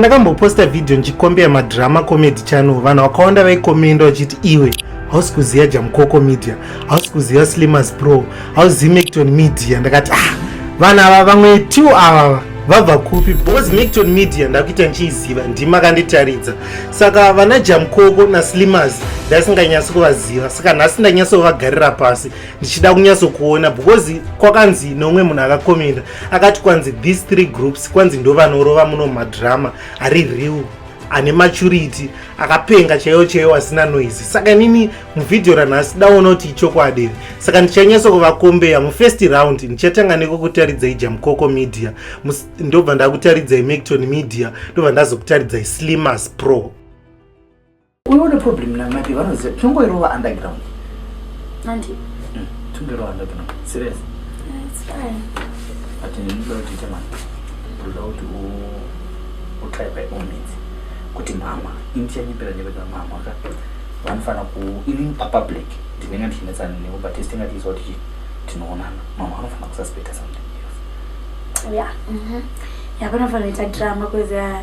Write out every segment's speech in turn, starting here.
ndakamboposta vhidhiyo ndichikombera madrama comedy channel vanhu vakawanda vaikomenda vachiti iwe hausi kuziva jamukoko media hausi kuziva slimas pro hauzivi macton media ndakati ah vanhu ava vamwe two avava vabva kupi bcause macton media ndakuita ndichiiziva ndima akanditaridza saka vana jamukoko naslimas ndasinganyatsi kuvaziva saka nhasi ndanyatsovagarira pasi ndichida kunyatsokuona bcause kwakanzi nomwe munhu akakomenda akati kwanzi these three groups kwanzi ndovanorova muno madrama ari real ane maturity akapenga chaiyo chaiyo asina noise saka inini muvhidhiyo ranhasi daona kuti ichokwadi saka ndichanyatsa kuvakombeya mufirst round ndichatanga nekokutaridzai jamukoko media ndobva ndakutaridzai macton media ndobva ndazokutaridzai slimas pro unoona problem na mike vanoziva tinongoirova underground andi mm, tinongoirova underground serious but ndinoda kuti ite mani ndoda kuti utry by all means kuti mama ini tichanyepera nyepera mama ka vanofanira ku ini papublic ndinenge ndichinetsana nevo but tese tingatiisa kuti tinoonana mama vanofanira kususpecta something else ya mm-hmm. ya vanofanira ita drama kuza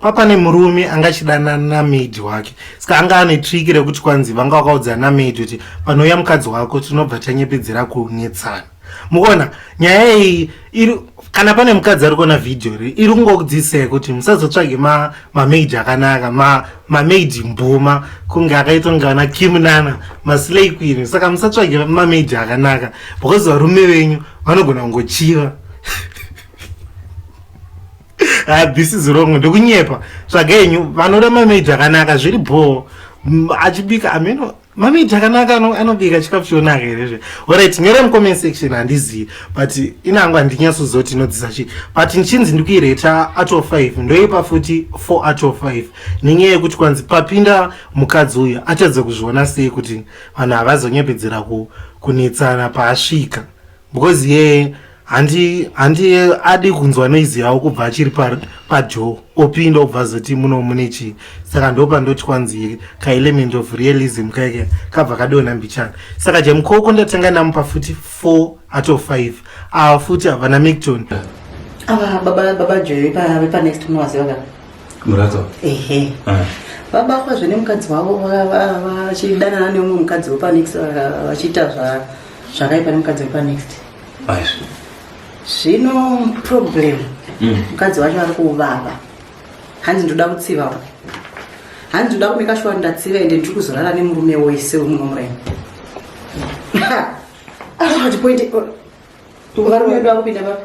papane murume anga achidana namaid wake ska anga ane triki rekuti kwanzi vanga vakaudza namaid kuti panouya mukadzi wako tinobva tanyepedzera kunetsana mukuona nyaya iyi iri kana pane mukadzi ari kuona vhidhiyo ri iri kungokudzisei kuti musazotsvage mamaid akanaka mamaid mbuma kunge akaitwa kunge vana kimunana maslay queen saka musatsvage mamaid akanaka because varume venyu vanogona kungochiva Ah, this is wrong ndokunyepa tsvaga yenyu vanoda mamaid akanaka zviri bhoo achibika ameno mamaid akanaka anobika chikafu chionaka here zve orit nyora mucomment section handizivi but inango handinyatsozoti inodzisa chii but ndichinzi ndikuireta out of five ndoipa futi four out of five nenyaya yekuti kwanzi papinda mukadzi uyu atadza kuzviona sei kuti vanhu havazonyepedzera kunetsana paasvika because ye handi handi adi kunzwa noise yawo kubva achiri pajo opinda obva azoti muno mune chii saka ndopa ndoti kwanzi kaelement of realism kaike kabva kadona mbichana saka jamukoko ndatanga namupa futi four out of five ava futi havana micton ava baba baba jo vepanext munovaziva ka murato ehe ah. baba kwazve nemukadzi wavo vachidanana neumwe mukadzi wepanext vachiita zva zvakaipa nemukadzi wepa next zvino problem mm. mukadzi wacho ari kuvava hanzi ndoda kutsiva uku hanzi ndoda kumeka shuwa ndatsiva ende ndiri kuzorara nemurume wese wemuno muraini ati point varume vedu vakupinda vapi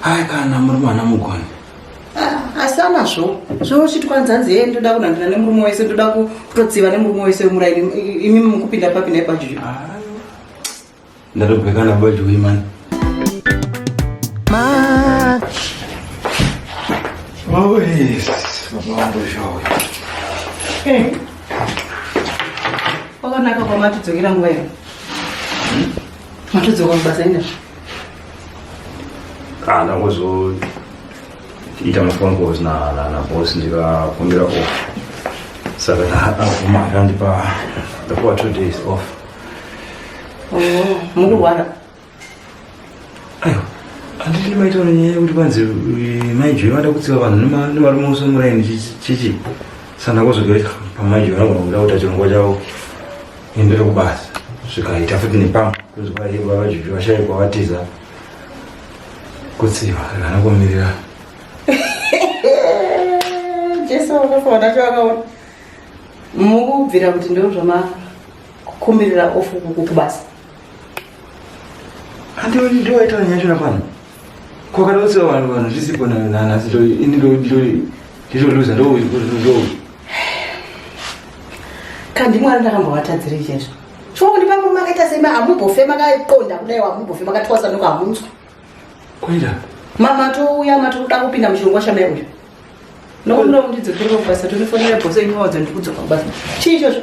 hai kana muri mwana mugoni ah, asi anazvo zvouchitwa nzanzi ye ndoda kunandira nemurume wese ndoda kutotsiva nemurume wese wemuraini imi mukupinda papi naibajuyu ndatobhekana bajuyi mani Always, mambo zvawo. Eh. Wakanaka kwamatidzokera nguva ino. Matidzoka mubasa ina. ah, ndangozoita maphone calls naboss ndikakumbira off saka ndakabvuma akandipa ndapuwa two days off oh, mukurwara aiwa handiti maitaura nyaya yekuti kwanzi eh, maijoi vada kutsiva vanhu nemarume ose muraini chichi sandakozogera pamaijoi vanogona kuda kuta chirongwa chavo Imbere kubasa zvikaita futi nepamwe kuzwa iye baba juju vashaikwa vatiza kutsiva kana kumirira jesu wakafaona chawakaona mukubvira kuti ndo zvamakukumbirira ofu kubasa handioni ndiwaitaura nyaya chona pano Ko kana usina vanhu vanhu zvisipo nayo nana asi ini ndo ndo ndizoluza ndo ndo kandi mwana ndakambovatadzira izvezvo chongo ndi pamwe makaita sema hamubofe makaqonda kudai wamubofe makatwasa noko hamunzwa kuita mama touya mati kuda kupinda muchirongwa chamai uyu nokunomundidzokere kubasa tonifonera bhose inovaudza ndikudzoka kubasa chii izvozvo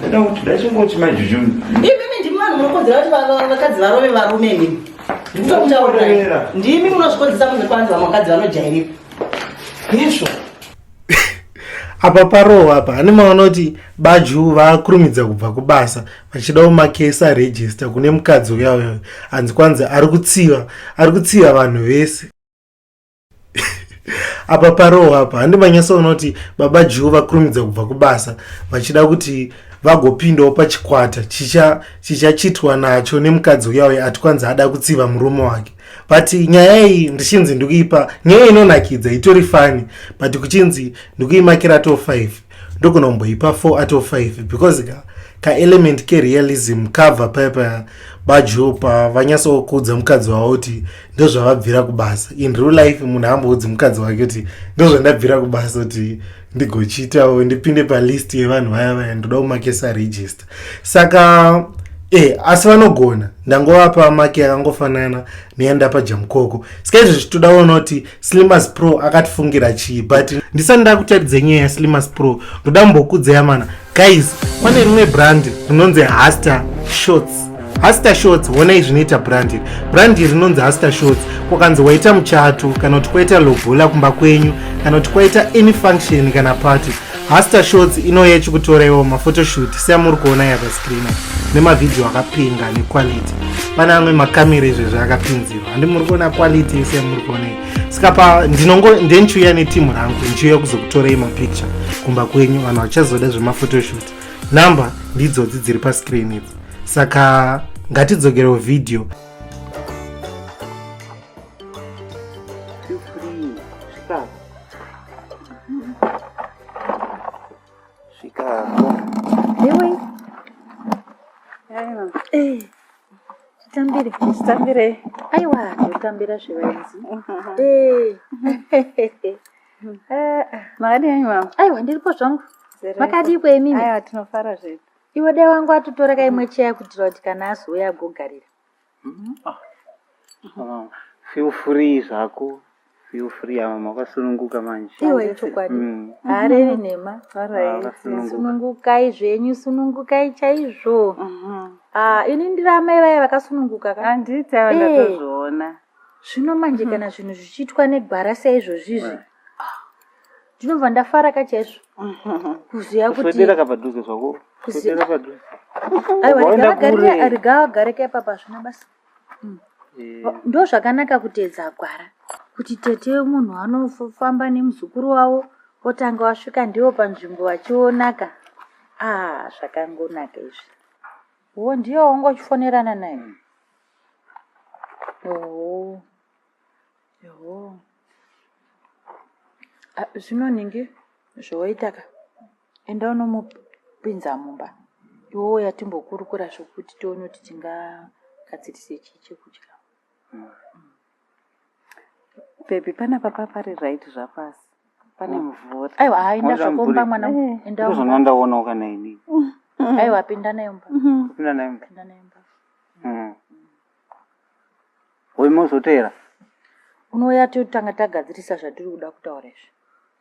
Ndoda kuti dai chingoti majuju. Imimi ndimi vanhu munokodzera kuti vakadzi varove varume imimi. Ndikutokutaurira. Ndimi munozvikodzesa kunze kwanzi vamwe vakadzi vanojairika. Yesho. apa parohwa apa hane maona kuti baju vakurumidza kubva kubasa vachidawo makesi arejista kune mukadzi uya uya anzi kwanzi ari kutsiva ari kutsiva vanhu vese apa parohwa apa handi manyatsoona kuti baba juu vakurumidza kubva kubasa vachida kuti vagopindawo pachikwata chichachitwa nacho nemukadzi uya uya ati kwanzi ada kutsiva murume wake but nyaya iyi ndichinzi ndikuipa nyaya inonakidza itori fani but kuchinzi ndikuimakira to five ndogona kumboipa 4 out of 5 because ka, ka element kerealism kabva paya paya bajo pavanyasokuudza mukadzi wavo kuti ndozvavabvira kubasa in real life munhu amboudzi mukadzi wake kuti ndozvandabvira kubasa kuti ndigochiitawo ndipinde palist yevanhu vaya vaya ndoda kumakesa regist saka e asi vanogona ndangovapa maki yakangofanana neyandapa jamukoko ska izvo zvichitoda kuona kuti slimas pro akatifungira chii but ndisati ndakutaridza nyaya yaslimas pro ndoda mbokudzaya mana guys pane rimwe brand rinonzi haster shots haster shots honai zvinoita brandi brandi rinonzi haster shots kwakanzi waita muchato kana kuti kwaita lobola kumba kwenyu kana kuti kwaita any function kana party Hasta shots inouya ichikutora iwo mafotoshoot seamuri kuona iya pascreen nemavhidhiyo akapinga nequality pane amwe makamera izvezvi akapinzirwa handi muri kuona quality yese yamuri kuona iyi saka pa ndinongo ndenchiuya netimu rangu ndichiuya kuzokutorei mapicture kumba kwenyu vanhu vachazoda zvemafotoshoot number ndidzodzi dziri pascreen idzi saka ngatidzokerewo vhidhiyo Svikapo. Iwe. Aiwa. Eh. Chitambire. Chitambire. Aiwa, chitambira zvivaenzi. Eh. Eh. Makadii anyi mama? Aiwa, ndiripo zvangu. Makadii kwe mimi? Aiwa, tinofara zvedu. Iwe dai wangu atutora kaimwe cheya kutira kuti kana azouya agogarira. Ah, feel free zvako feel free ava makasununguka manje iwe ichokwadi Mm. haareri nhema Vakasununguka. sunungukai zvenyu sunungukai chaizvo Ah, ini ndiri amai vaya vakasununguka ka handiti ava Eh. ndatozviona zvino manje kana zvinhu zvichiitwa negwara saizvozvizvi ndinobva ndafara ka chaizvo kuziva kutiapadhuze zvako aiwarigawagareka ipapa hazvina basa mm. eh. ndo zvakanaka kuteedza gwara kuti tete munhu anofamba nemuzukuru wavo otanga wasvika ndiwo panzvimbo vachionaka a ah, zvakangonaka izvi wo ndiyo wanga uchifonerana naye oo oh. Yehoo. Ah, Zvino ningi zvoitaka enda unomupinza mumba iwe uya timbokurukura zvokuti tione kuti tingagadzirise chii chekudya. Baby panapa papari right zvapasi. Pane mvura. Aiwa haa enda Mvura zvako mumba mvura. mwana wangu, enda Ndizvo mumba. zvandandawoonawo kana ini. Aiwa pinda nayo mumba. Kupinda naye mumba. Pinda nayo mumba. Mm. Hoyi mozoteera. Unouya totanga tagadzirisa zvatiri kuda kutaura izvi.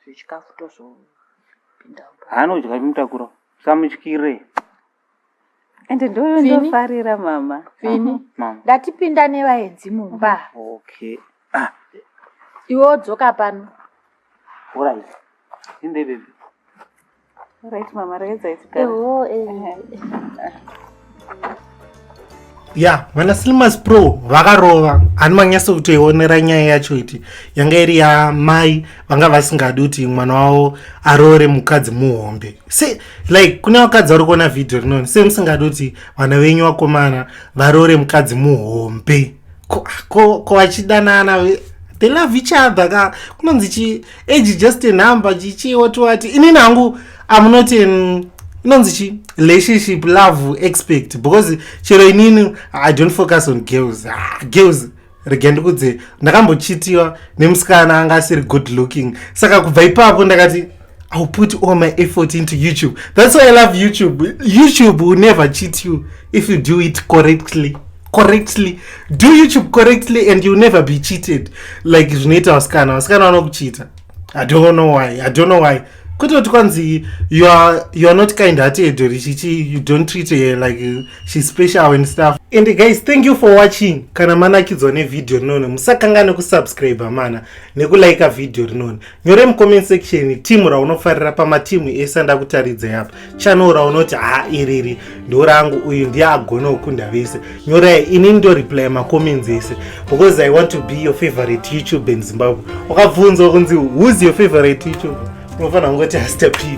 Zvechikafu tozopinda. Haanodya mutakura. Samutyire. Ende ndoyo ndofarira mama. Fini. Mama. Ndatipinda nevaenzi mumba. Okay. Ah. Iwe odzoka pano. All right. Inde baby. Right mama, regedzai tigare. Eho, eh. ya vana slimas pro vakarova ani manyasa kutoionera nyaya yacho iti yanga iri yamai vanga vasingadi kuti mwana wavo aroore mukadzi muhombe se like kune vakadzi vari kuona vhidhio rinoni se musingadi kuti vana venyu vakomana varoore mukadzi muhombe ko vachidanana ko, ko they love each other ka kunonzi chi age just a number chichi woti wati inini hangu am not in inonzi chi relationship love expect because chero inini i don't focus on girls ah, girls rega ndikudze ndakambochitiwa nemusikana anga asiri good looking saka kubva ipapo ndakati ill put all my effort into youtube that's why i love youtube youtube will never cheat you if you do it correctly correctly do youtube correctly and you never be cheated like zvinoita vasikana vasikana vanokuchita i don't know why i don't know why kwete kuti kwanzi you are, you are not kind hearted edori chichi you don't treat her like she's special and stuff and guys thank you for watching kana manakidzwa nevideo rinone musakangane kusubscribe mana nekulike video rinone nyore mucomment section timu raunofarira pamatimu ese andakutaridzai apa channel raunoti ha iriri ndo rangu uyu ndiye agona kukunda vese nyorai ini ndo reply macomments ese because i want to be your favorite youtube in zimbabwe wakabvunzwa kunzi who's your favorite youtube unofanira kungoti haster pivi